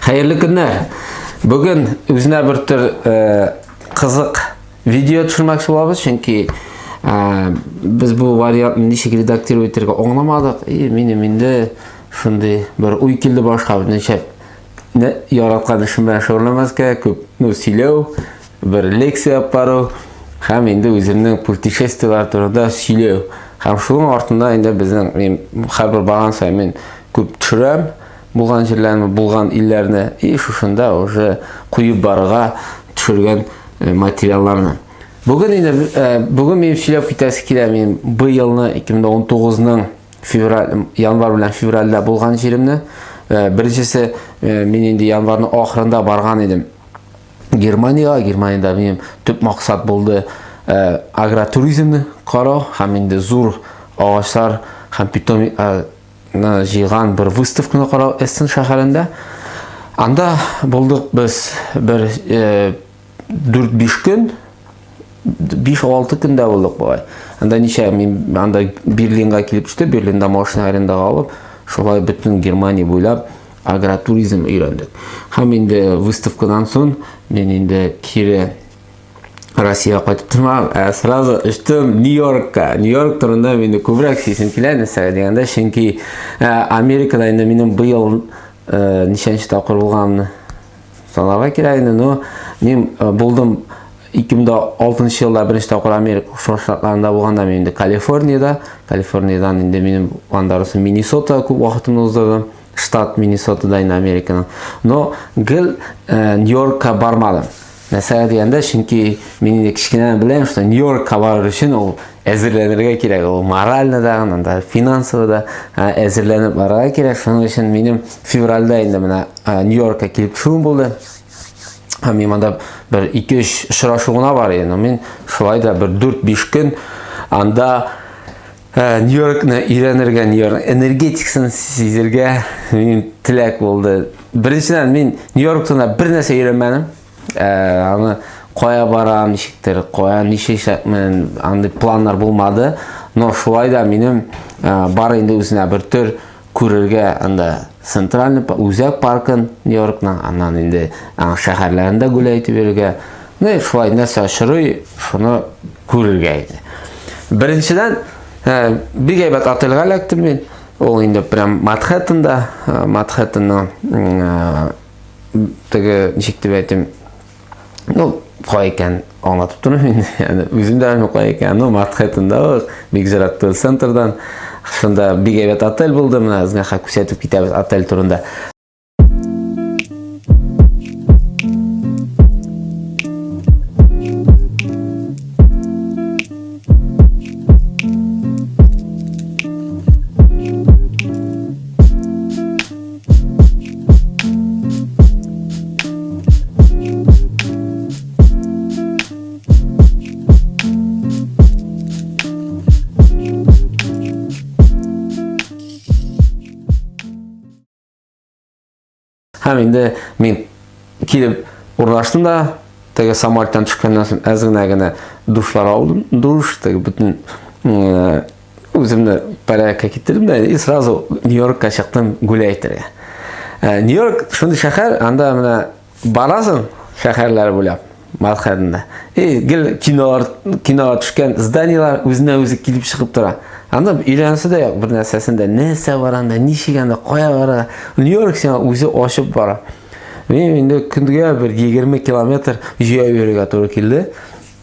Хәерле көннәр! Бүген үзенә бер төр э, кызык видео төшермәкче булабыз, чөнки э, без бу вариантны ничек редактировать итәргә аңламадык. И минем инде шундый бер уй килде башка, ничә яраткан эшем белән шөгыльләнмәскә, күп ну сөйләү, бер лекция алып бару һәм инде үземнең путешествиеләр турында сөйләү. Һәм шуның артында инде безнең мин хәбәр барган саен мин күп төшерәм. Булган җирләрне, булган илләрне и шушында уже куеп барырга төшергән материалларны. Бүген инде бүген мин сөйләп китәсе килә мин быелны 2019-ның февраль январь белән февральдә булган җиремне. Беренчесе мин инде январьның ахырында барган идем. Германиягә, Германиядә минем төп максат булды э, агротуризмны карау һәм инде зур агачлар һәм питомиклар э, җыйган бер выставканы карау Эссен шәһәрендә. Анда булдык без бер 4-5 көн, 5-6 көн дә булдык болай. Анда ничә мин анда Берлинга килеп төштем, Берлинда машина арендага алып, шулай бөтен Германия буйлап агротуризм өйрәндек. Һәм инде выставкадан соң мин инде кире Россияга кайтып тормам, ә сразу очтым Нью-Йоркка. Нью-Йорк турында мені күбрәк сезсем килә, нәрсәгә дигәндә, чөнки ә, Америкада инде минем быел ә, ничәнче тапкыр булганымны санарга кирәк инде, но мин ә, булдым 2006 елда беренче тапкыр Америка Штатларында булганда мин инде Калифорниядә, Калифорниядән инде минем анда Миннесота күп вакытымны уздырдым. Штат Миннесотада инде Американың. Но гел э, Нью-Йоркка бармадым. Мәсәлә дигәндә, чөнки мин инде кечкенәдән беләм, что Нью-Йоркка барыр өчен ул әзерләнергә кирәк ул морально да анда финансово да әзерләнеп барырга кирәк шуның өчен минем февральдә инде менә нью йоркка килеп төшүем булды һәм мин монда бер ике өч очрашу гына бар иде мин шулай да бер дүрт биш көн анда Ә, Нью-Йоркны өйрәнергә, Нью-Йорк энергетикасын сизергә минем теләк булды. Беренчедән, мин Нью-Йорк турында бер нәрсә өйрәнмәдем. Ә, аны кая барам, ничектер, кая нишәчәкмен, андый планнар булмады. Но шулай да минем ә, бар инде үзенә бер төр күрергә анда центральный үзәк паркын нью йоркның аннан инде аның шәһәрләрендә гүләй итеп йөрергә ну и шулай нәрсә очрый шуны күрергә иде беренчедән ә, бик әйбәт отельгә эләктем мин ул инде прям манхэттенда манхэттенның ә, теге ничек дип әйтим Ну, кай икән аңлатып тормыйм инде. Яни үзем дә белмим кай икән. Ну, Матхэтында ук, бик зират центрдан. Шунда бик әйбәт отель булды. Менә сезгә хәк күрсәтеп китәбез отель турында. һәм инде мин килеп урнаштым да теге самолеттан төшкәннән соң әз генә генә душлар алдым душ теге бөтен Үземне порядокка китердем дә и сразу Нью-Йоркка чыктым гүлә әйтергә. Ә, Нью-Йорк шундый шәһәр, анда менә барасың шәһәрләр буйлап. Мадхәдендә. И гел кинолар, киноға төшкән зданиелар үзенә үзе килеп чыгып тора. Анда өйләнәсе дә юк бер нәрсәсендә. Нәрсә бар анда, ничек анда, кая бара? Нью-Йорк сиңа үзе ачып бара. Мин инде көндә бер 20 километр җәяү йөрергә туры килде.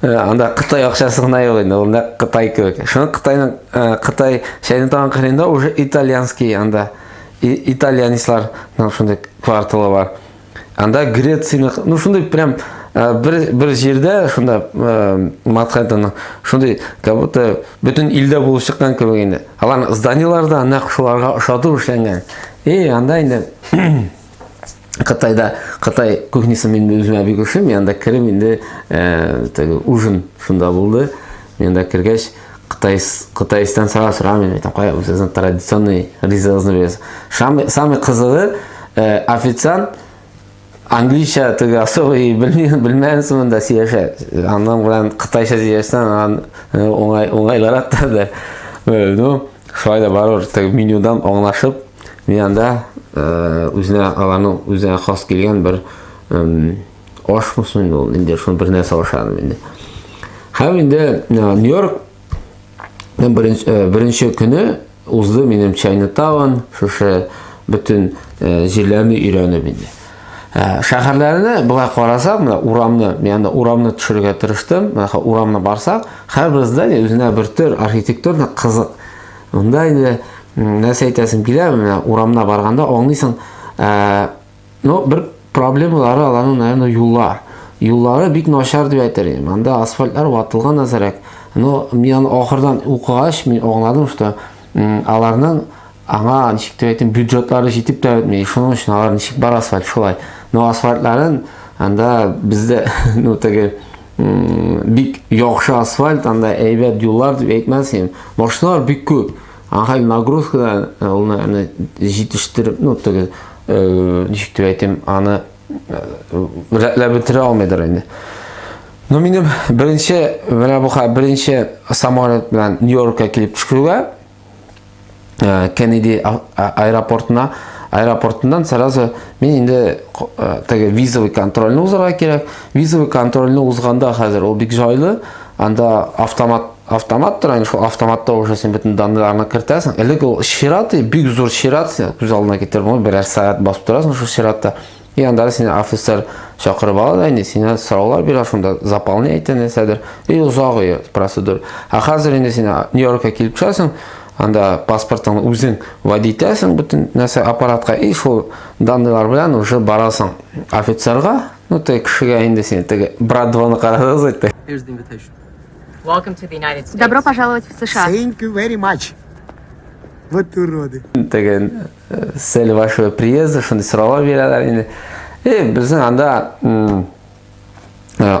Э, анда Кытай акчасы гына юк инде, ул нәкъ Кытай кебек. Шуны Кытайның э, Кытай шәйне тагын кырында уже итальянский анда итальянислар нам шундый кварталы бар. Анда Грецияны, ну шундый прям э, бер бер җирдә шунда Манхэттенның шундый как будто бөтен илдә булып чыккан кебек инде. Алар зданиелар да нәкъ шуларга ошатып эшләнгән. И анда инде Кытайда Кытай кухнясы мин үземә бик ошый, мин анда керем инде э, теге ужин шунда булды. Мин анда кергәч Кытай Кытайстан сара сорам мин әйтәм, кая үзегезнең традиционный ризыгызны бирәсез. Самый самый кызыгы э, официант английша теге особый белмеген белмәгән сымында сөйләшә. Аннан белән кытайча сөйләшсәң, ан оңай оңайлырак та. Ну, Шулай да барыр, теге менюдан аңлашып, мин анда э, үзенә аларның үзенә хас килгән бер аш мөсен инде ул, инде шуны бер нәрсә ашадым инде. Һәм инде э, Нью-Йорк э, беренче көне узды минем Чайнатаун, шушы бөтен җирләрне өйрәнеп инде. Ә, шәһәрләрне болай карасак, менә урамны, янда урамны төшерергә тырыштым. Менә урамны барсак, һәрбер здание үзенә бер төр архитектурный кызык. Монда инде нәрсә әйтәсем килә, менә урамна барганда аңлыйсың, ә, ну, бер проблемалары аларның, наверное, юллар. Юллары бик начар дип әйтер идем. Анда асфальтлар ватылган әзрәк. Но мин аны ахырдан укыгач, мин аңладым, что аларның Аңа ничек тә әйтим, бюджетлары җитеп тә бетми. Шуның өчен алар ничек бар асфальт шулай. Но асфальтларын анда бездә ну теге бик яхшы асфальт, анда әйбәт юллар дип әйтмәсен. Машиналар бик күп. Аңа нагрузкадан э, улны җитештереп, ну теге э, ничек тә әйтим, аны э, рәтләп бетерә алмыйдыр инде. Ну минем беренче, менә бу хәл беренче самолет белән Нью-Йоркка килеп төшкергә э, Кеннеди аэропортына аэропортыннан сразу мин инде э, теге визовый контрольны узарга кирәк визовый контрольны узганда хәзер ул бик җайлы анда автомат автомат тора инде автоматта уже син бөтен данныйларны кертәсең элек ул чират бик зур чират күз алдына китереп берәр сәгать басып торасың шул чиратта И анда да сине офицер чакырып ала да инде сине сораулар бирә шунда заполнять итә нәрсәдер и озак и процедура ә хәзер инде син нью йоркка килеп төшәсең анда паспортыңны үзең вводи итәсең бөтен нәрсә аппаратка и шул данныйлар белән уже барасың офицерга ну теге кешегә инде син теге брат двоны карадыгыз әйтте добро пожаловать в сша thank you very much вот уроды теге Цели вашего приезда, шундый сораулар бирәләр инде. Э, безнең анда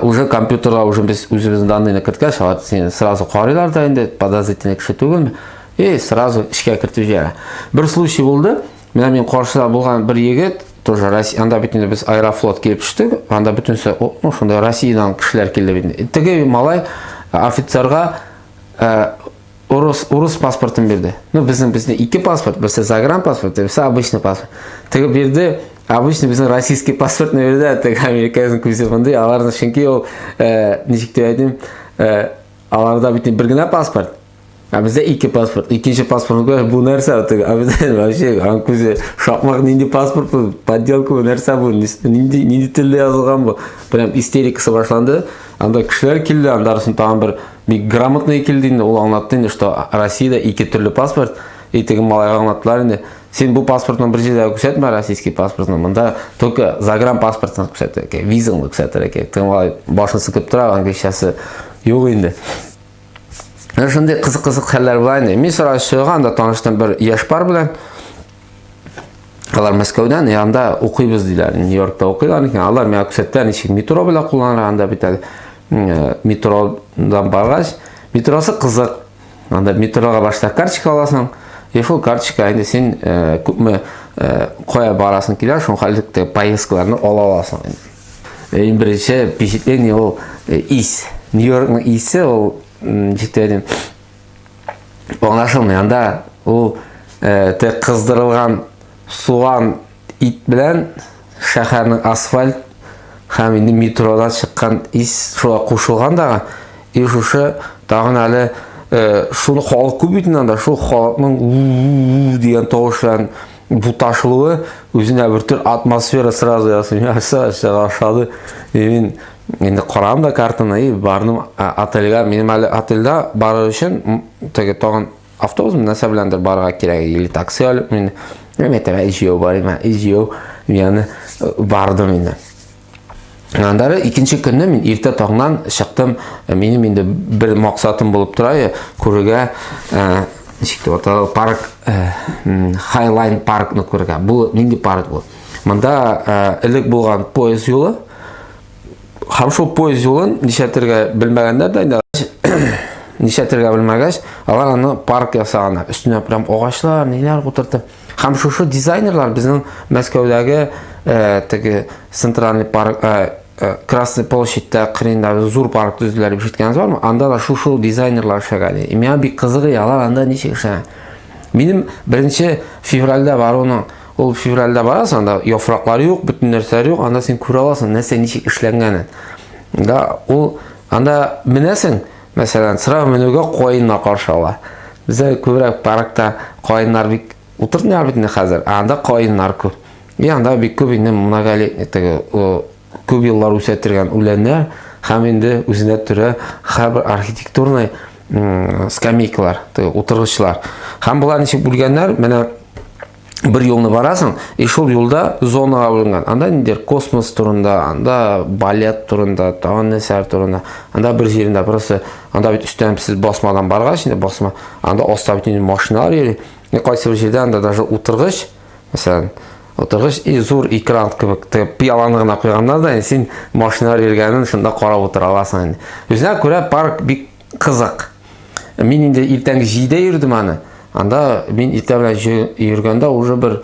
уже компьютерда уже без үзебезнең данныйны керткәч, алар сине сразу карыйлар да инде, подозрительный кеше түгелме? И сразу эшкә кертеп җибәрә. Бер случай булды. Менә мин каршыда булган бер егет, тоже Россия, анда бит инде без Аэрофлот килеп төштек. Анда бөтенсе, ну, шунда Россиядән кешеләр килде бит. Теге малай офицерга Урыс, урыс паспортын бирде. Ну, безнең безне ике паспорт, берсе загран паспорт, берсе обычный паспорт. Теге бирде, обычный безнең российский паспортны бирде, теге американың күзе мондый, аларны чөнки ул, э, ничек дип әйтим, э, аларда бит бер генә паспорт. А бездә ике паспорт. Икенче паспорт күрә бу нәрсә теге? А бездә вообще ан күзе шакмак нинди паспорт бу? Подделка бу нәрсә бу? Нинди нинди телдә язылган бу? Прям истерикасы башланды. Анда кешеләр килде, андасын тагын бер Бик грамотный килде инде, ул аңлатты инде, что Россиядә ике төрле паспорт, и теге малайга аңлаттылар инде. Син бу паспортны бер җирдә күрсәтмә, российский паспортны. Монда только загран паспортны күрсәтә икән, визаңны күрсәтә икән. Теге малай башын сыкып тора, англичасы юк инде. Шундый кызык-кызык хәлләр була инде. Мин сразу чыгам да таныштым бер яшь пар белән. Алар Мәскәүдән, я анда укыйбыз диләр. Нью-Йоркта укыйлар икән. Алар миңа күрсәттеләр, ничек метро белән кулланырга анда бит әле. Э, метродан баргач, метросы кызык. Анда метрога башта карточка аласың, и шул карточка инде син э, күпме э, кая барасың килә, шуңа хәллектә поездкаларны ала аласың инде. Иң беренче впечатление ул ис. Нью-Йоркның исе ул җитәдем. Аңлашылмый. Анда ул э, те кыздырылган суган ит белән шәһәрнең асфальт һәм инде метродан чыккан ис шуңа кушылган да. И шушы тагын әле э, шуны халык күп бит анда, шул халыкның дигән тавыш белән буташылуы үзенә бер төр атмосфера сразу ясый. Нәрсә ашады? Мин Инде карадым да картаны и бардым отельга. Минем әле отельда барыр өчен теге тагын автобус нәрсә беләндер барырга кирәк. Или такси алып мин мәктәбә җыю бар иде. Җыю яны бардым инде. Андары икенче көнне мин иртә таңнан чыктым. Минем инде бер максатым булып тора, күрергә ничек дип атала, парк Хайлайн паркны күрергә. Бу нинди парк бу? Монда элек булган поезд юлы. Һәм шул поезд юлын нишәтергә белмәгәннәр дә инде нишәтергә белмәгәч, алар аны парк ясаганнар. Өстенә прям агачлар, ниләр утыртып. Һәм шушы дизайнерлар безнең Мәскәүдәге э, теге центральный парк э, э, Красный площадьта кырында зур парк төзделәр дип ишеткәнегез бармы? Анда да шушы дизайнерлар эшләгән. И миңа бик кызыгы, алар анда ничек эшләгән? Минем 1 февральдә баруның Ул февральдә барасың, анда яфраклар юк, бөтен нәрсә юк, анда син күрә аласың, нәрсә ничек эшләнгәнен. Да, ул анда менәсең, мәсәлән, сыра менүгә каеннар каршы ала. Бездә күбрәк паркта каеннар бик утыртмыйлар бит инде хәзер, ә анда каеннар күп. И анда бик күп инде многолетний теге күп еллар үсә торган үләннәр һәм инде үзенә төрә хәбәр архитектурный скамейкалар утыргычлар һәм болар ничек бүлгәннәр менә бер юлны барасың и шул юлда зонаға бүленгән анда ниндер космос турында анда балет турында тагын нәрсәләр турында анда бер җирендә просто анда бит өстән сез басмадан баргач инде басма анда аста бит инде машиналар йөри кайсы бер җирдә анда даже утыргыч Мәсәлән, утыргыч и зур экран кебек тегеп пиаланы гына куйганнар да син машина йөргәнен шунда карап утыра аласың инде. Үзенә күрә парк бик кызык. Мин инде иртәнге 7-дә йөрдем аны. Анда мин иртә белән йөргәндә уже бер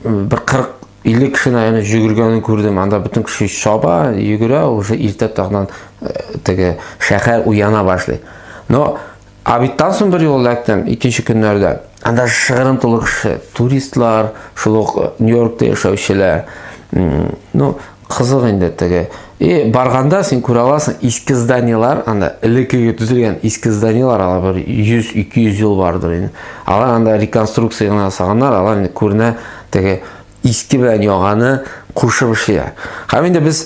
бер 40 50 кешене яны җөгергәнен күрдем. Анда бөтен кеше шаба, йөгерә, уже иртә тагыннан э, теге шәһәр уяна башлый. Но Абиттан соң бер юл эләктем, икенче көннәрдә. Анда шыгырым тулы кеше, туристлар, шул ук э, Нью-Йоркта яшәүчеләр. Ну, кызык инде теге. И барганда син күрә аласың, иске зданиелар, анда элеккеге төзелгән иске зданиелар, алар бер 100-200 ел бардыр инде. Алар анда реконструкция гына ясаганнар, алар инде күренә теге иске белән яганы кушып эшлиләр. Һәм инде без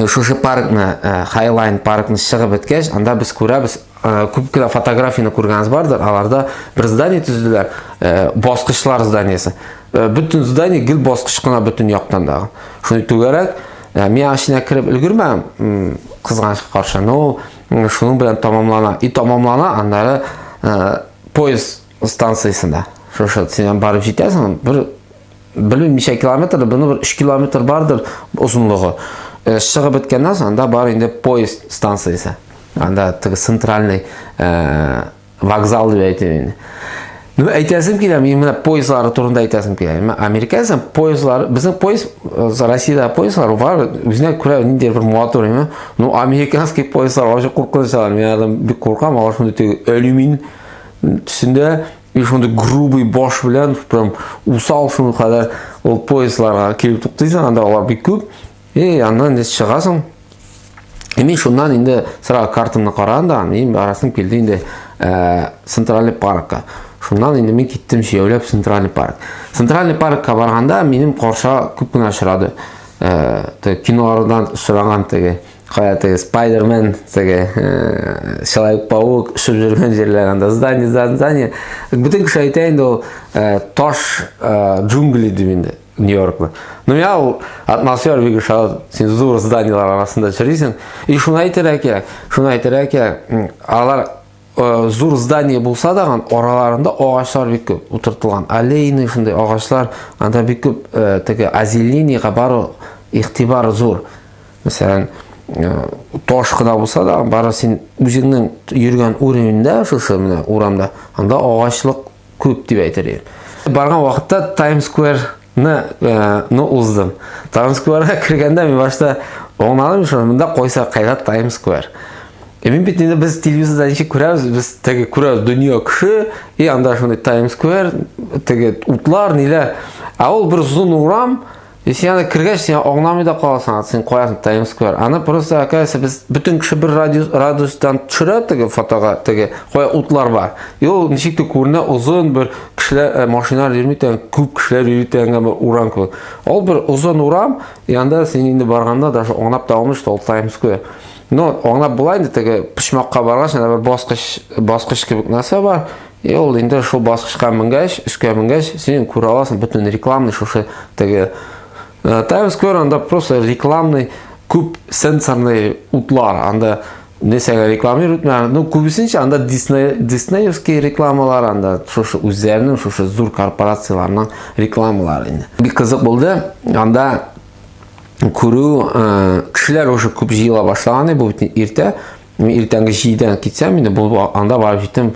шушы паркны хайлайн паркны чыгып беткәч анда без күрәбез күп кенә фотографияны күргәнегез бардыр аларда бер здание төзеделәр баскычлар зданиесе бөтен здание гел баскыч кына бөтен яктан дагы шуны түгәрәк мин ашына кереп өлгермәдем кызганычка каршы но шуның белән тамамлана и тамамлана аннары поезд станциясендә шушы синнән барып җитәсең бер белмим ничә километр буны бер өч километр бардыр озынлыгы э, чыгып беткәннән соң анда бар инде поезд станциясе анда теге центральный э, вокзал дип әйтәм инде ну әйтәсем килә мин менә поездлары турында әйтәсем килә менә американецның поездлары безнең поезд э, россияда поездлар бар үзенә күрә нинди бер матур ну американский поездлар вообще куркыныч мин алардан бик куркам алар шундый теге алюмин Төсендә и шундый грубый баш белән прям усал шуны кадәр ул поездларга килеп туктыйсың, анда алар бик күп. И аннан инде чыгасың. И мин шуннан инде сразу картамны караган да, мин барасым килде инде э, центральный паркка. Шуннан инде мин киттем җәяүләп центральный парк. Центральный паркка барганда минем карша күп кенә очрады. Э, кинолардан очраган теге Кая теге Спайдермен, теге э, Человек-паук шып жүргән җирләр анда здание, здание. Бүтән кеше әйтә инде ул э, таш э, джунгли дип инде Нью-Йоркны. Ну я ул атмосфера бик шат, син зур зданиелар арасында чирисең. И шуны әйтергә кирәк, шуны әйтергә кирәк. Алар э, зур здание булса да, араларында агачлар бик күп утыртылган. Аллейный шундый агачлар, анда бик күп э, теге азелинийга бару ихтибар зур. Мәсәлән, таш кына булса да, бары син үзеңнең йөргән уровеньда, шушы менә урамда, анда агачлык күп дип әйтер идем. Барган вакытта Times Square ны э, ну уздым. Times Square-га кергәндә мин башта оңладым, шуны монда койса кайда Times Square. Э, мин бит инде без телевизорда ничек күрәбез, без теге күрәбез дөнья кеше, и анда шундый Times Square, теге утлар, ниләр. Ә ул бер озын урам, И син аны кергәч, син аңламый да каласың, аны син куясың Times Square. Аны просто, оказывается, без бөтен кеше бер радиус, радиустан төшерә теге фотога, теге кая утлар бар. И ул ничек тә күренә озын бер кешеләр, э, машиналар йөрми торган, күп кешеләр йөри торган бер урам кебек. Ул бер озын урам, янда син инде барганда даже аңлап та алмыйсың, ул Times Square. Но аңлап була инде теге почмакка баргач, анда бер баскыч, баскыч кебек нәрсә бар. И ул инде шул баскычка менгәч, өскә менгәч, син күрә аласың бөтен рекламный шушы теге э, Times Square анда просто рекламный күп сенсорный утлар, анда нәрсәгә рекламируют, ну күбесенчә анда Disney Disneyевский рекламалар анда шушы үзләренең шушы зур корпорацияләрнең рекламалары инде. Бик кызык булды. Анда күрү э, кешеләр уже күп җыела башлаган, бу бит иртә. Мин иртәнге җидедә китсәм инде, бу анда барып җиттем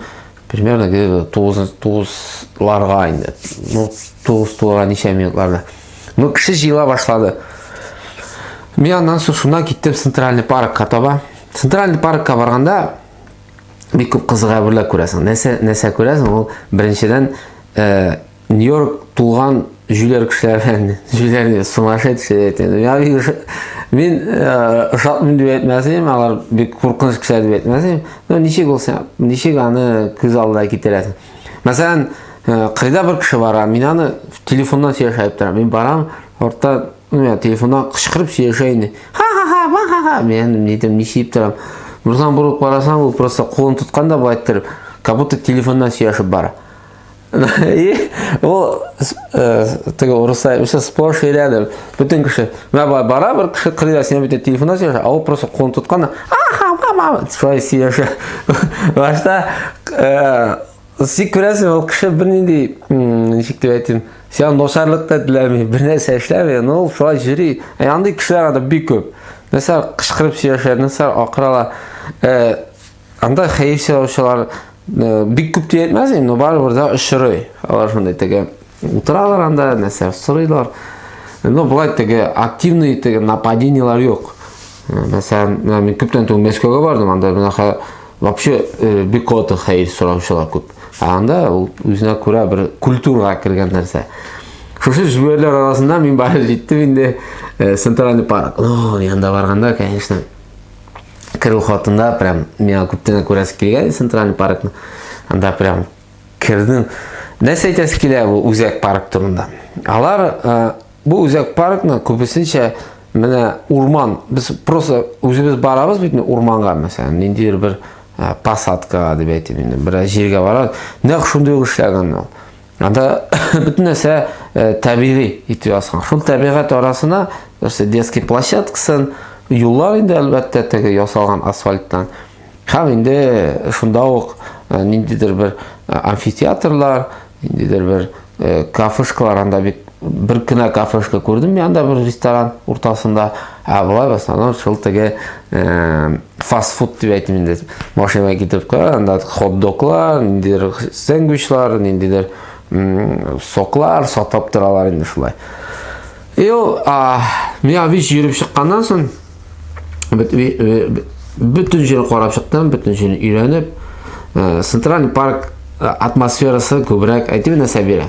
примерно где-то 9-ларга инде. Ну, 9 туларга ничә минутларда. Ну, кеше җыела башлады. Мин аннан соң шуннан киттем Центральный паркка таба. Центральный паркка барганда бик күп кызык әйберләр күрәсең. Нәрсә нәрсә күрәсең? Ул беренчедән э, Нью-Йорк тулган җүләр кешеләр белән җүләрне сумасшедший әйтәм. Я мин ошатмыйм дип әйтмәсем, алар бик куркыныч кешеләр дип әйтмәсем. Но ничек булса, ничек аны күз алдына китерәсең. Мәсәлән, кайда бер кеше бара, мин аны телефоннан сөйләшә дип торам. Мин барам, орта, ну я телефоннан кычкырып сөйләшә инде. Ха-ха-ха, ха-ха-ха, мин нидем, ничек торам. Бурсан бурып карасам, ул просто кулын тоткан да байтыр, как будто телефоннан сөйләшеп бара. И ул э, теге урыслар үсә сплош өйрәнеп, бөтен кеше, мә бар бара бер кеше кырыйда сине бөтен телефонда сөйләшә, а ул просто кулын тоткан, аха, мама, шулай сөйләшә. Башта э, сик күрәсең, ул кеше бернинди, ничек дип әйтим, сиңа ношарлык та теләми, бернәрсә эшләми, но ул шулай йөри. Ә андый кешеләр анда бик күп. Нәрсә кычкырып сөйләшә, нәрсә акыралар. Э, Анда хәер сораучылар бик күп дип әйтмәс инде, но барыбер дә очрый. Алар шундай теге утыралар анда, нәрсә сорыйлар. Но болай теге активный теге нападениелар юк. Мәсәлән, мин күптән түгел Мәскәүгә бардым, анда менә вообще бик каты хәер сораучылар күп. Анда ул үзенә күрә бер культурага кергән нәрсә. Шушы җүләрләр арасында мин бары җиттем инде центральный парк. Ну, янда барганда, конечно, керу хатында прям миңа күптән күрәсе килгән центральный паркны анда прям кердем нәрсә әйтәсе килә бу үзәк парк турында алар ә, бу үзәк паркны күбесенчә менә урман без просто үзебез барабыз бит урманга мәсәлән ниндидер бер ә, посадкага дип әйтим инде бераз җиргә барабыз нәкъ шундый ук эшләгән ул Анда бөтен нәрсә э, табигый итеп ясалган. Шул табигать арасына нәрсә детский площадкасын, юллар инде әлбәттә теге ясалган асфальттан. Һәм инде шунда ук э, ниндидер бер э, амфитеатрлар, ниндидер бер кафешкалар анда бит Бер кенә кафешка күрдем янда бер ресторан уртасында. Ә болай в основном шул теге фастфуд дип әйтим инде. Машинага китеп кара, анда хот-доглар, ниндидер сэндвичлар, ниндидер соклар сатып торалар инде шулай. И ул миңа вич йөреп чыкканнан соң бөтен җирен карап чыктым, бөтен җирен өйрәнеп, центральный парк атмосферасы күбрәк әйтим инде Сабира.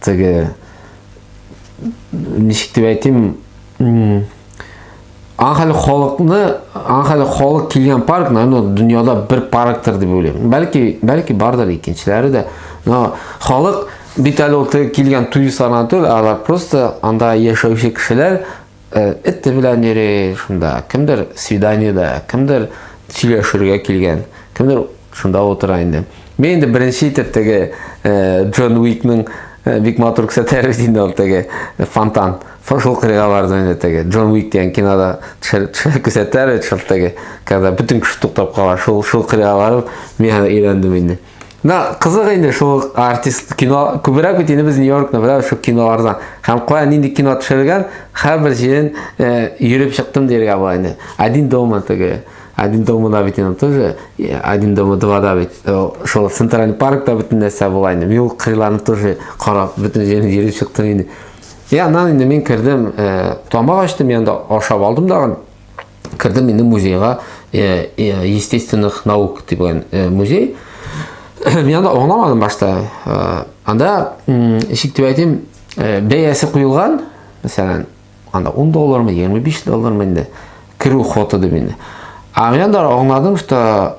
Теге ничек дип әйтим, Анхәле халыкны, анхәле халык килгән парк, наверное, дөньяда бер парктыр дип уйлыйм. Бәлки, бәлки бардыр икенчеләре дә. Но халык бит әле ул килгән туристлардан түгел, алар просто анда яшәүче кешеләр Эте белән йөри шунда. Кемдер свиданиедә, кемдер сөйләшергә килгән, кемдер шунда утыра инде. Мин инде беренче итеп теге Джон Уикның бик матур күрсәтәләр бит инде ул теге фонтан. Шул кырыйга бардым инде теге. Джон Уик дигән кинода күрсәтәләр бит шул теге. Когда бөтен кеше туктап кала, шул шул кырыйга барып, мин аны өйрәндем инде. На, кызык инде шул артист кино күбрәк бит инде без Нью-Йоркны беләбез шул кинолардан. Һәм кая нинди кино төшергән, һәрбер җирен э, йөреп чыктым дияргә була инде. Один дома теге. Один дома да бит инде тоже. э, Один дома два да бит. э, Шул Центральный паркта бөтен нәрсә була инде. Мин ул кырларны тоже карап, бөтен җирен йөреп чыктым инде. Я, аннан инде мин кердем, э, тамак ачтым, янда ашап алдым дагын. Кердем инде музейга, э, э, естественных наук дигән э, музей. Мин анда аңламадым башта. Анда ишек дип әйтим, бәясе куелган, мәсәлән, анда 10 доллармы, 25 доллармы инде керү хоты дип инде. А мин анда аңладым, что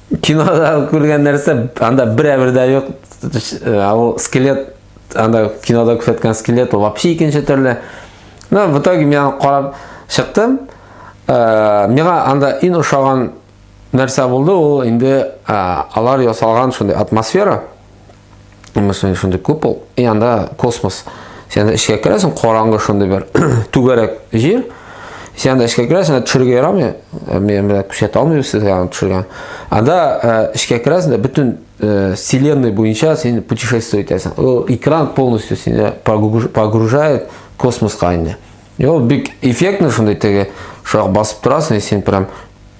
Кинода күргән нәрсә, анда бер әбер дә юк. Э, ул скелет, анда кинода күрсәткән скелет, ул вообще икенче төрле. Но в итоге мин аны карап чыктым. Э, миңа анда иң ошаган нәрсә булды, ул инде э, алар ясалган шундый атмосфера. Именно сонда шундый купол, и анда космос. Сен анда эчкә керәсең, караңгы шундый бер түгәрәк җир. Сен анда эчкә керәсең, анда төшергә ярамый. Э, мен белән күрсәтә алмыйм сезгә аны төшергән. Анда э, эчкә керәсең дә бөтен э, вселенной буенча син путешествие итәсең. Ул экран полностью сине погружает космоска инде. И ул бик эффектный шундый теге шуак басып торасың, и син прям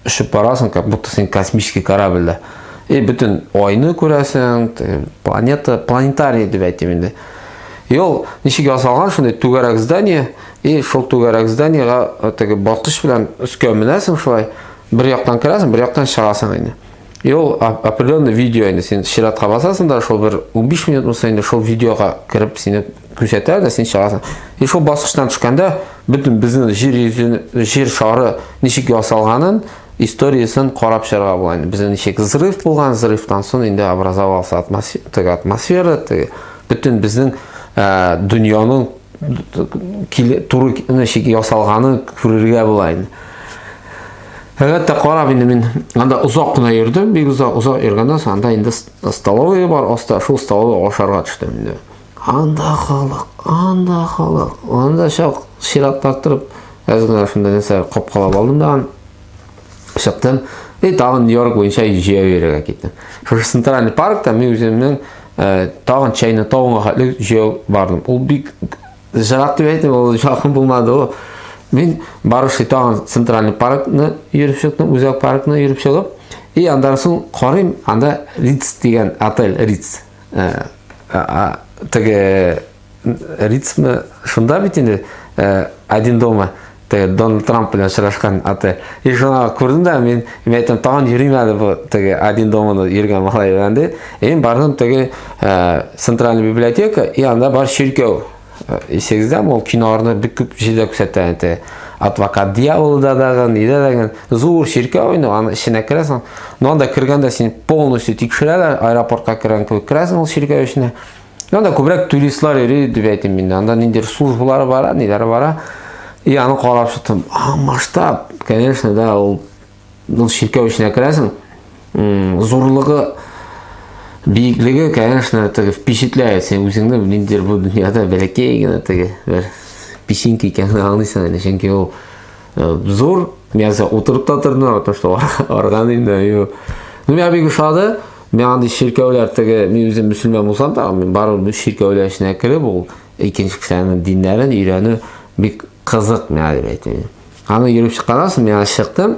Очып барасың, как будто син космический корабльдә. И бөтен айны күрәсең, планета, планетарий дип әйтим инде. И ул ничек ясалган шундый түгәрәк здание, и шул түгәрәк зданиега теге баскыч белән өскә менәсең шулай, бер яктан керәсең, бер яктан чыгасың инде. И ул определенный видео инде син чиратка басасың да, шул бер 15 минутмы инде шул видеога кереп сине күрсәтә дә син чыгасың и шул баскычтан төшкәндә бөтен безнең җир йөзен җир шары ничек ясалганын историясен карап чыгарга була инде безнең ничек взрыв булган взрывтан соң инде образовался атмосфера теге атмосфера теге бөтен безнең ә, дөньяның туры ничек ясалганын күрергә була инде Әлбәттә карап инде мин анда озак кына йөрдем, бик озак озак йөргәннән соң анда инде столовый бар, аста шул столовый ашарга төштем инде. Анда халык, анда халык. Анда чак чират тартырып, әзгә шунда нәрсә капкалап алдым да чыктым. И тагын Нью-Йорк буенча җәяү йөрергә киттем. Шушы центральный паркта мин үземнең э, тагын чәйне тавыңга хәтле җәяү бардым. Ул бик җырак дип әйтеп, ул якын булмады ул. Мин барышы тагын центральный паркны йөреп чыктым, үзәк паркны йөреп чыгып, и андан соң карыйм, анда Риц дигән отель, Риц Ә, ә, теге ритмы шунда бит инде ә, один дома теге Дональд Трамп белән очрашкан аты. И шуна күрдем дә мин, мин әйтәм, тагын йөрим әле бу теге один доманы йөргән малай белән ди. Мин бардым теге ә, центральный библиотека, и анда бар чиркәү. Исегездә ул киноларны бик күп җирдә күрсәтә инде. Адвокат дьяволда дагы, нидә дагы зур чиркәү инде, аны эченә керәсең. Но анда кергәндә син полностью тикшерәләр, аэропортка кергән кебек керәсең ул чиркәү эченә. Но анда күбрәк туристлар йөри дип әйтим мин. Анда ниндер службалары бара, ниләре бара. И аны карап чыктым. А, масштаб, конечно, да, ул Ул чиркәү эченә керәсең, зурлыгы биеклеге, конечно, теге впечатляет сен үзеңне ниндидер бу дөньяда бәләкәй генә теге бер песинка икәнен аңлыйсың әле, чөнки ул э, зур, мин әзер утырып та тордым, потому что арган инде. Ну, миңа бик ошады. Мен андый чиркәүләр теге, мин үзем мөселман булсам да, мин барып чиркәүләр эченә кереп, ул икенче кешеләрнең диннәрен өйрәнү бик Кызык мәгәлим әйтү. Аны йөреп чыкканнан мин аны чыктым.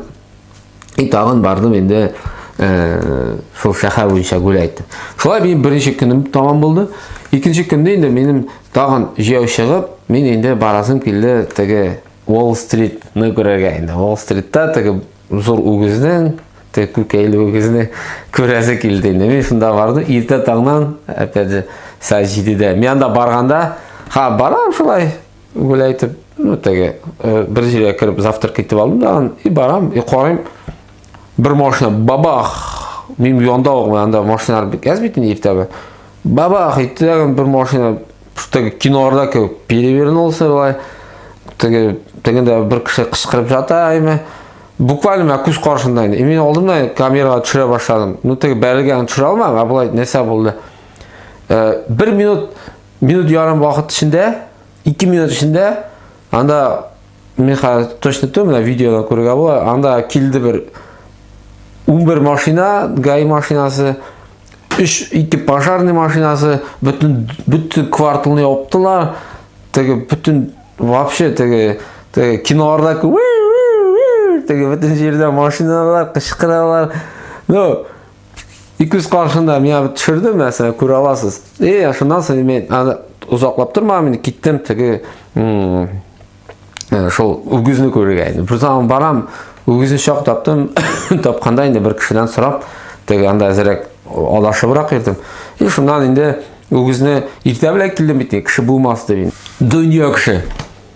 И тагын бардым инде шул шәһәр буенча гүлә әйттем. Шулай мин беренче көнем тамам булды. Икенче көндә инде минем тагын җәяү чыгып, мин инде барасым килде теге Wall Street-ны күрергә инде. Wall Street-та теге зур үгезнең теге күкәйле үгезне күрәсе килде инде. Мин шунда бардым, иртә таңнан, опять же, сәгать 7-дә. Мин анда барганда, ха, барам шулай, Гүләй итеп, ну, теге, э, бер җиргә кереп завтрак итеп алдым да, и барам, и карыйм, бер машина бабах, мин янда угым, анда машиналар бик әз бит инде иртәбе. Бабах итте тагын бер машина, теге киноларда кебек перевернулся былай. Теге тегендә бер кеше кычкырып жата, әйме. Буквально мен күз каршында инде. Мин алдым да камерага төшерә башладым. Ну, теге бәрелгән төшерә алмам, ә былай нәрсә булды? Э, бер минут Минут ярым вакыт эчендә, 2 минут эчендә анда мин хәзер точно түгел, менә видеода күрергә була. Анда килде бер 11 машина, ГАИ машинасы, 3 ике пожарный машинасы, бөтен бөтен кварталны яптылар. Теге бөтен вообще теге теге киноларда теге бөтен җирдә машиналар кычкыралар. Ну, И күз каршында миңа бит төшерде мәсәлән, күрә аласыз. И, шуннан соң мин аны озаклап тормам, мин киттем теге шул үгезне күрергә. Бирсам барам, үгезне чак таптым, тапканда инде бер кешедән сорап, теге анда әзрәк алашыбрак йөрдем. И шуннан инде үгезне иртә белән килдем бит, кеше булмас дип. Дөнья кеше.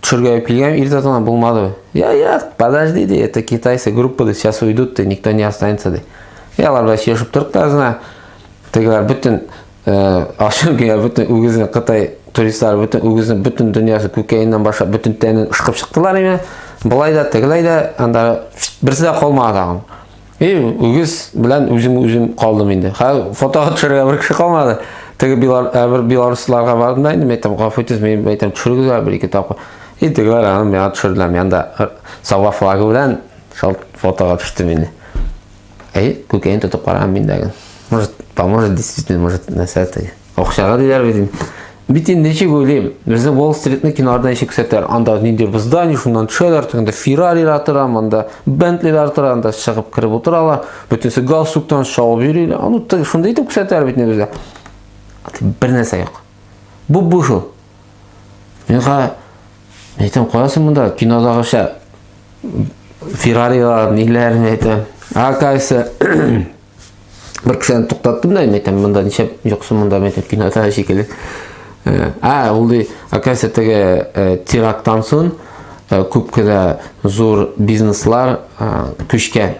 Төшергә килгән иртә тона булмады. Я, я, подожди, ди, это китайцы группа, ди, сейчас уйдут, ди, никто не останется, ди. Я, алар белән сөйләшеп тордык та азына. Тегеләр бөтен э, ашын генә бөтен үгезне Кытай туристлары бөтен үгезне бөтен дөньясы күкәеннән башлап бөтен тәнен ышкып чыктылар име. Былай да, тегеләй дә, анда берсе дә калмады тагын. И үгез белән үзем үзем калдым инде. Хәл фотога төшерергә бер кеше калмады. Теге билар ә бер белорусларга бардым да инде мен әйтәм, гафу итегез, мен әйтәм, төшерегезләр бер ике тапкыр. И тегеләр аны миңа төшерделәр, мен анда Сава флагы белән шул фотога төштем инде. Әй, күкәен тотып караган мин дә. Может, поможет действительно, может, нәрсә теге. Акчага диләр бит инде. Бит инде ничек уйлыйм, безнең Wall Street-ны киноларда ничек күрсәтәләр, анда нинди бер здание, шуннан төшәләр, тегендә Феррарилар тора, монда Бентлилар тора, анда чыгып кереп утыралар, бөтенесе галстуктан шаулап йөриләр. Аны тек шундый итеп күрсәтәләр бит инде безгә. Бер нәрсә юк. Бу бу шул. Мин ха әйтәм, каясы монда кинодагыча Феррарилар, ниләр әйтәм. А кайсы Бер кешедән туктаттым да, әйтәм, монда ничәп юксы монда әйтәм, кинода шикелле. Ә, ә ул ди, оказывается, теге э, теракттан соң э, күп кенә зур бизнеслар э, күчкән.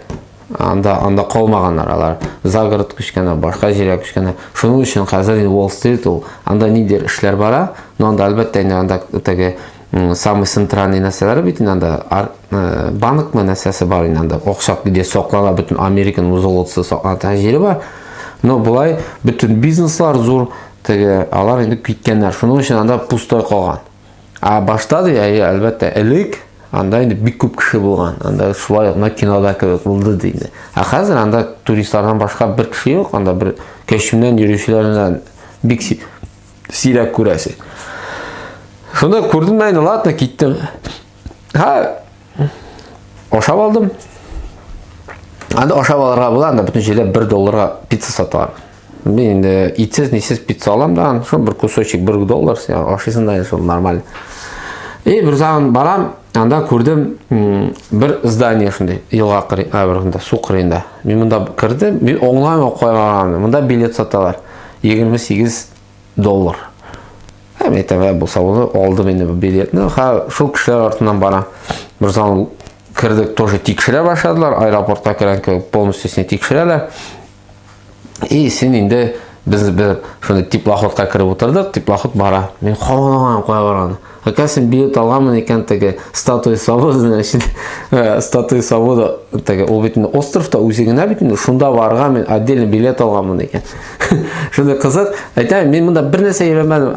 Анда анда калмаганнар алар. Загород күчкәннәр, башка җиргә күчкәннәр. Шуның өчен хәзер Wall Street ул анда ниндидер эшләр бара, но анда әлбәттә инде анда теге самый центральный нәрсәләр бит инде анда э, банкмы нәрсәсе бар инде анда акча где саклана бөтен американың золотосы саклана җире бар но былай бөтен бизнеслар зур теге алар инде киткәннәр шуның өчен анда пустой калган а башта ди әлбәттә элек анда инде бик күп кеше булган анда шулай ук кинода кебек булды ди инде ә хәзер анда туристлардан башка бер кеше юк анда бер кәчемнән йөрүчеләрдән бик Сирәк күрәсе. Шунда күрдем әйне, ладно, киттем. Ха, ашап алдым. Анда ашап алырга була, анда бүтін җирдә 1 долларга пицца саталар. Мин инде итсез, нисез пицца алам да, шул бер кусочек 1 доллар, ашыйсың да, шул нормаль. И бер заман барам, анда күрдем бер здание шундый, елга кырыйнда, ә бер су кырыйнда. Мин монда кирдем, мин оңлаймын кайган, монда билет саталар. 28 доллар. Һәм әйтәвә булса ул алды менде билетны. Ха, шул кешеләр артыннан бара. Берзан кердек, тоже тикшерә башладылар. Аэропортка керән кебек полностью сине тикшерәләр. И син инде без без шуны теплоходка кереп утырдык, теплоход бара. Мин хавалаган кая барган. Әкә син биет алгамын икән теге статуя свободаны өчен. Э, статуя свобода теге ул бит инде островта үзе генә бит инде шунда барырга мин отдельно билет алганмын икән. Шундый кызык. Әйтәм, мин монда бер нәрсә өйрәнмәдем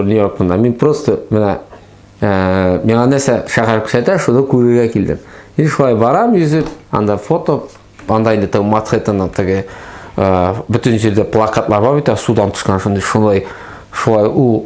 Нью-Йорк монда. Мин просто менә э, миңа нәрсә шәһәр күрсәтә, шуны күрергә килдем. Мин шулай барам йөзеп, анда фото, анда инде теге Манхэттенның теге э, бөтен җирдә плакатлар бар бит, судан төшкән шундый, шулай шулай ул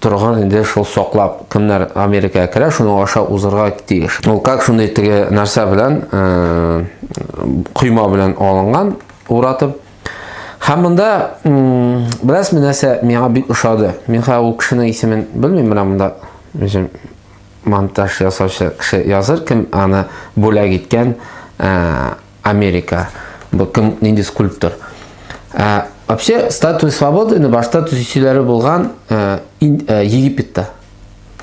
торган инде шул саклап кемнәр Америкага керә, шуның аша узырга тиеш. Ул как шуны теге нәрсә белән э, койма белән алынган уратып. Һәм монда бераз нәрсә миңа бик ошады. Мин хәзер ул кешенең исемен белмим, менә монда үзем монтаж ясаучы кеше языр кем аны бүләк иткән э, Америка. Бу кем нинди скульптор? Ә, вообще статуя свободы ны башта төзүчеләре булган ә, ин, ә, Египетта.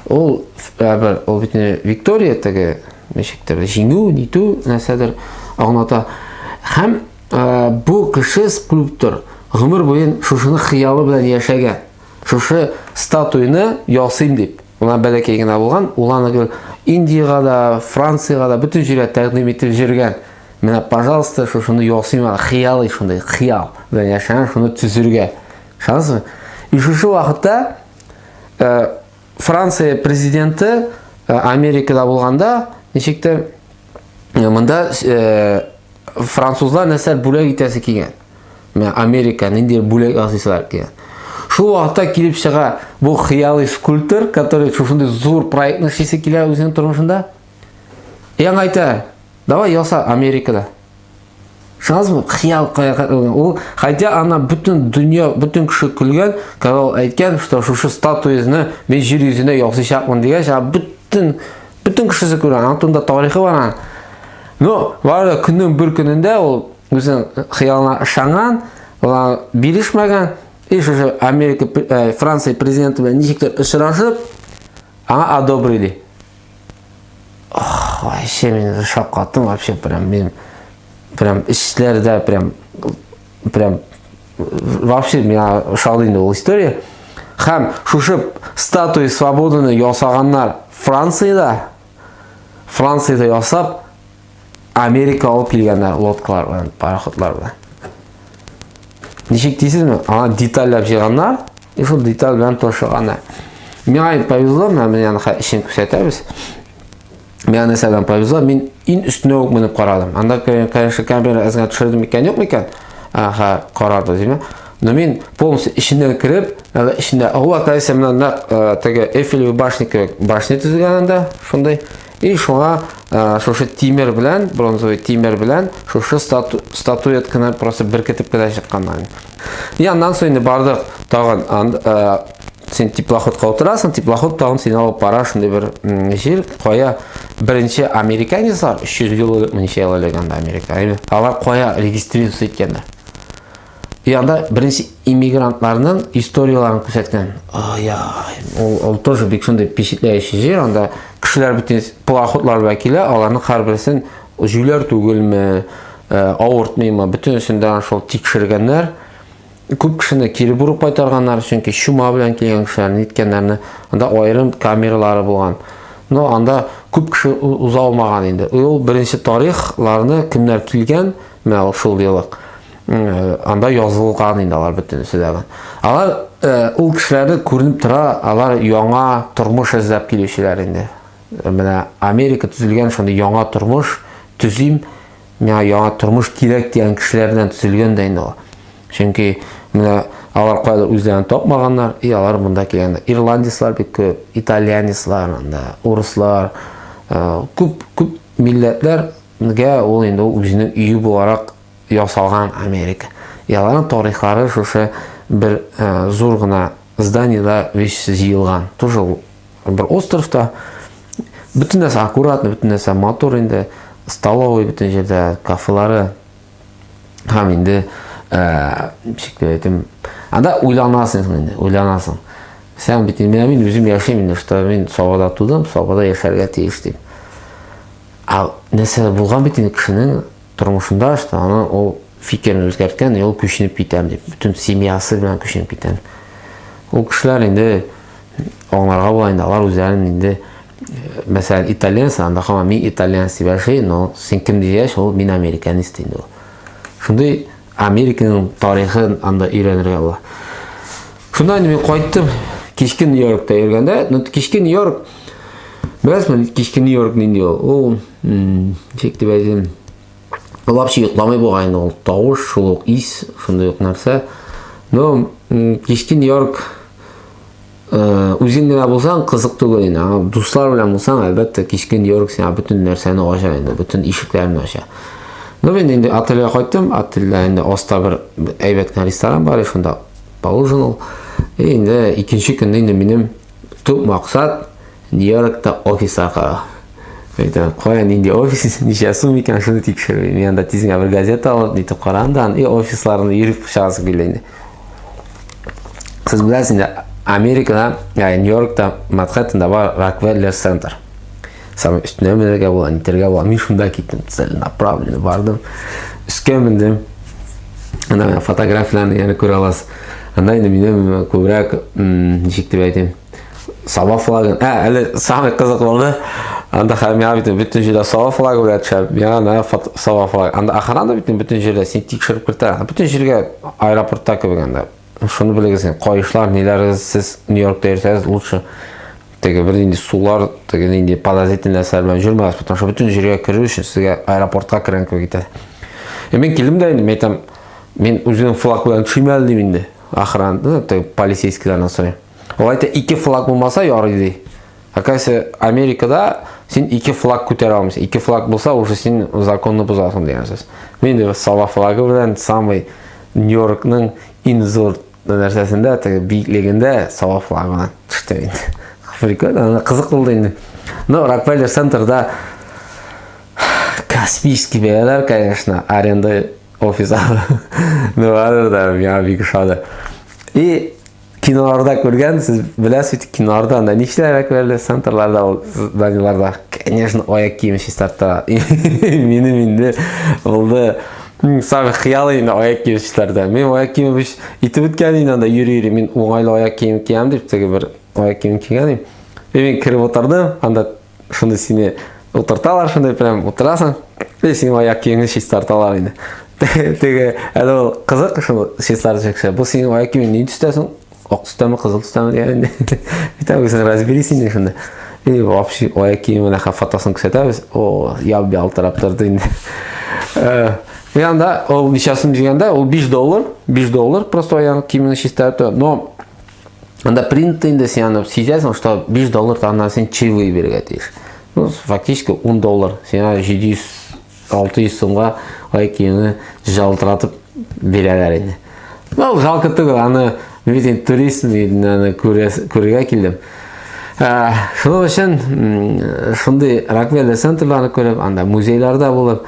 Ул ә, бер ул бит Виктория теге ничектер җиңү, нитү нәрсәдер аңлата. Һәм ә, бу кеше скульптор гомер буен шушыны хыялы белән яшәгән. Шушы статуйны ясыйм дип, мына бәләкәй генә булган, ул аны гел Индиягә дә, Франциягә дә, бөтен җиргә тәкъдим итеп җөргән. Менә, пожалуйста, шушыны ясыйм аны, хыялый шундый, хыял белән яшәгән, шуны төзергә. Ышанасызмы? И шушы вакытта э, Франция президенты э, Америкада булганда, ничектер, э, монда э, французлар нәрсә бүләк итәсе килгән. Менә Америка нинди бүләк ясыйсызлар икән. Шул вакытта килеп чыга бу хыялый скульптор, который шушындый зур проектны эшлисе килә үзенең тормышында. Яң әйтә, давай яса Америкада. Шансмы хыял кыяфәт ул хотя ана бөтен дөнья бөтен кеше көлгән когда ул әйткән что шушы статуяны мин җир йөзенә ясыйчакмын дигәч а бөтен бөтен кешесе күрә антында тарихы бар но бары да көннең бер көнендә ул Үзен хыялына ышанган, алар бирешмәгән, и шушы Америка, э, Франция президенты белән ничектер очрашып, аңа одобрили. Ох, вообще мин шаккаттым вообще прям мин прям эшләрдә прям прям вообще меня шалды инде ул история. Хәм шушы статуя свободаны ясаганнар Франциядә. Франциядә ясап Америка алып килгәннәр лодкалар белән, пароходлар белән. Ничек дисезме? Аны детальләп җыйганнар, и шул деталь белән тошыганнар. Миңа повезло, мен менә аны эшен күрсәтәбез. Миңа нәрсәдән повезло, мин ин өстенә үк менеп карадым. Анда, конечно, камера әзгә төшердем икән, юк микән? Аха, карады, димә. Но мин полностью эченнән кереп, әле эчендә, ала, кайсы менә теге Эйфелевый башня кебек башня төзелгән анда, шундый И шуңа ә, шушы тимер белән, бронзовый тимер белән, шушы стату, статуэтканы просто беркетеп кенә чыкканнар. И аннан соң инде бардык тагын ан, ә, син теплоходка утырасың, теплоход тагын сине алып бара шундый бер җир, кая беренче американецлар 300 ел элек, ничә ел элек анда Америка, алар кая регистрируется иткәннәр. Бу янда беренче иммигрантларның историяләрен күрсәткән. Ай-ай, ул, ул тоже бик шундый впечатляющий җир. Анда кешеләр бөтен пароходлар белән килә, аларның һәрберсен җүләр түгелме, э, авыртмыймы, бөтенесен дә шул тикшергәннәр. Күп кешене кире борып кайтарганнар, чөнки чума белән килгән кешеләр ниткәннәрне. Анда аерым камералары булган. Но анда күп кеше уза алмаган инде. Ул беренче тарихларны кемнәр килгән, менә ул шул еллык. анда язылган инде алар бөтенесе дә. Алар ул кешеләрне күренеп тора, алар яңа тормыш эзләп килүчеләр инде. Менә Америка төзелгән шундый яңа тормыш төзим, миңа яңа тормыш кирәк дигән кешеләрдән төзелгән дә инде ул. Чөнки менә алар кайда үзләрен тапмаганнар, и алар монда килгәннәр. Ирландецлар бик күп, итальянецлар, анда урыслар, күп күп милләтләргә ул инде үзенең өе буларак ясалган Америка. Яларның тарихлары шушы бер э, зур гына зданиеда весь җыелган. Тоже бер островта. Бөтен нәрсә аккуратно, бөтен нәрсә матур инде. Столовый бөтен җирдә, кафелары. Һәм инде э, ничек дип әйтим, анда уйланасың инде, уйланасың. Сән бит инде мин үзем яшим инде, что мин Сабада тудым, Сабада яшәргә тиеш дип. А нәрсә булган бит инде кешенең Тормышында что аны ул фикерен үзгәрткән, ул күченеп китәм дип, бөтен семьясы белән күченеп китәм. Ул кешеләр инде аңларга була инде, алар үзләрен инде мәсәлән итальянец, анда һаман мин итальянец дип яши, но син кем дигәч, ул мин американист инде ул. Шундый Американың тарихын анда өйрәнергә була. Шунда инде мин кайттым, кичке Нью-Йоркта йөргәндә, ну кичке Нью-Йорк Беләсезме, кичке Нью-Йорк нинди ул? Ул, ничек дип әйтим, лапчы йокламый бугай инде ул. Тавыш, шул ук ис, шундый ук нәрсә. Но кичке Нью-Йорк Үзең генә булсаң кызык түгел инде. Аңа дуслар белән булсаң, әлбәттә, кичкен йорк сиңа бөтен нәрсәне ача инде, бөтен ишекләрне ача. Ну, мин инде отельгә кайттым. Отельдә инде аста бер әйбәт кенә ресторан бар, шунда поужинал. И инде икенче көнне инде минем төп максат Нью-Йоркта офис аркалау. Әйтәм, кая нинди офис, ничә сум икән, шуны тикшермим. Янда тизгә бер газета алып, нитеп карам да, и офисларны йөреп чыгасы килә инде. Сез беләсез инде, Америкада, ә, Нью-Йоркта, Манхэттенда бар Рокфеллер центр. Самый өстенә менергә була, нитергә була. Мин шунда киттем, целенаправленно бардым. Өскә мендем. Ана фотографияләрне яны күрә аласыз. Анда инде минем күбрәк, ничек дип әйтим, Саба флагы. Ә, әле самый кызык булды. Анда хәм миңа бит бөтен җирдә саба флагы белән төшә. Миңа на саба флагы. Анда охрана бит бөтен җирдә син тикшереп кертә. Бөтен җиргә аэропортта кебек анда. Шуны белегез, кайышлар, ниләрегез сез Нью-Йоркта йөрсәгез лучше теге бер нинди сулар, теге нинди подозрительный нәрсәләр белән йөрмәгез, потому что бөтен җиргә керү өчен сезгә аэропортка кергән кебек итә. Е, мин килдем дә инде, әйтәм, мин үзем флаг белән төшмәлдем инде. Охран, ну, полицейскийлардан сорыйм. Алай да ике флаг булмаса ярый ди. Оказывается, Америкада син ике флаг күтәрә алмыйсың. Ике флаг булса, уже син законны бозасың дигән сүз. Мин дә сала флагы белән самый Нью-Йоркның иң зур нәрсәсендә, теге биеклегендә сала флагы белән төштем инде. Африка да кызык булды инде. Но Рокфеллер центрда Каспийский бәяләр, конечно, аренда офиса. Ну, да, я бик шады. И Киноларда күргән, сез беләсез бит, киноларда анда нишләр әкбәрле центрларда ул зданиларда, конечно, аяк киеме чистарта. Минем инде булды Сам хыял инде аяк кием чистарта. Мин аяк кием биш итеп үткән инде анда йөри-йөри. Мин уңайлы аяк кием киям дип теге бер аяк кием кигән идем. И мин кереп утырдым, анда шуны сине утырталар шуны прям утырасың и синең аяк киеңне чистарталар инде теге әле ул кызык шул чистартып кеше бу синең аяк киемең ни төстә соң ак төстәме кызыл төстәме дигән инде үзең разберись инде шунда и вообще аяк киеме нәхә фотосын күрсәтәбез о яп ялтырап торды инде э, и анда ул ничасын дигәндә ул биш доллар биш доллар просто аяк киемеңне чистарту но Анда принтта инде син аны сизәсең, что 5 доллар тагыннан син чаевые бирергә тиеш. Ну, фактически 10 доллар. Син 700 600 сумга ай киеме жалтыратып бирәләр инде. Ну, жалко түгел, аны мин турист мин аны күрергә килдем. Ә, шуның өчен шундый Рокфеллер центрларны күреп, анда музейларда булып,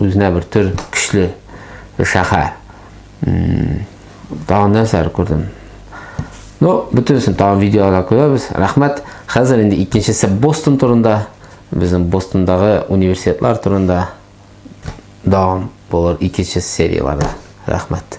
Үзенә бер төр көчле шәһәр. Тагын нәрсәләр күрдем. Ну, бөтенесен тагын видеода күрәбез. Рәхмәт. Хәзер инде икенчесе Бостон турында, безнең Бостондағы университетлар турында дәвам булыр икенче серияләрдә. Рәхмәт.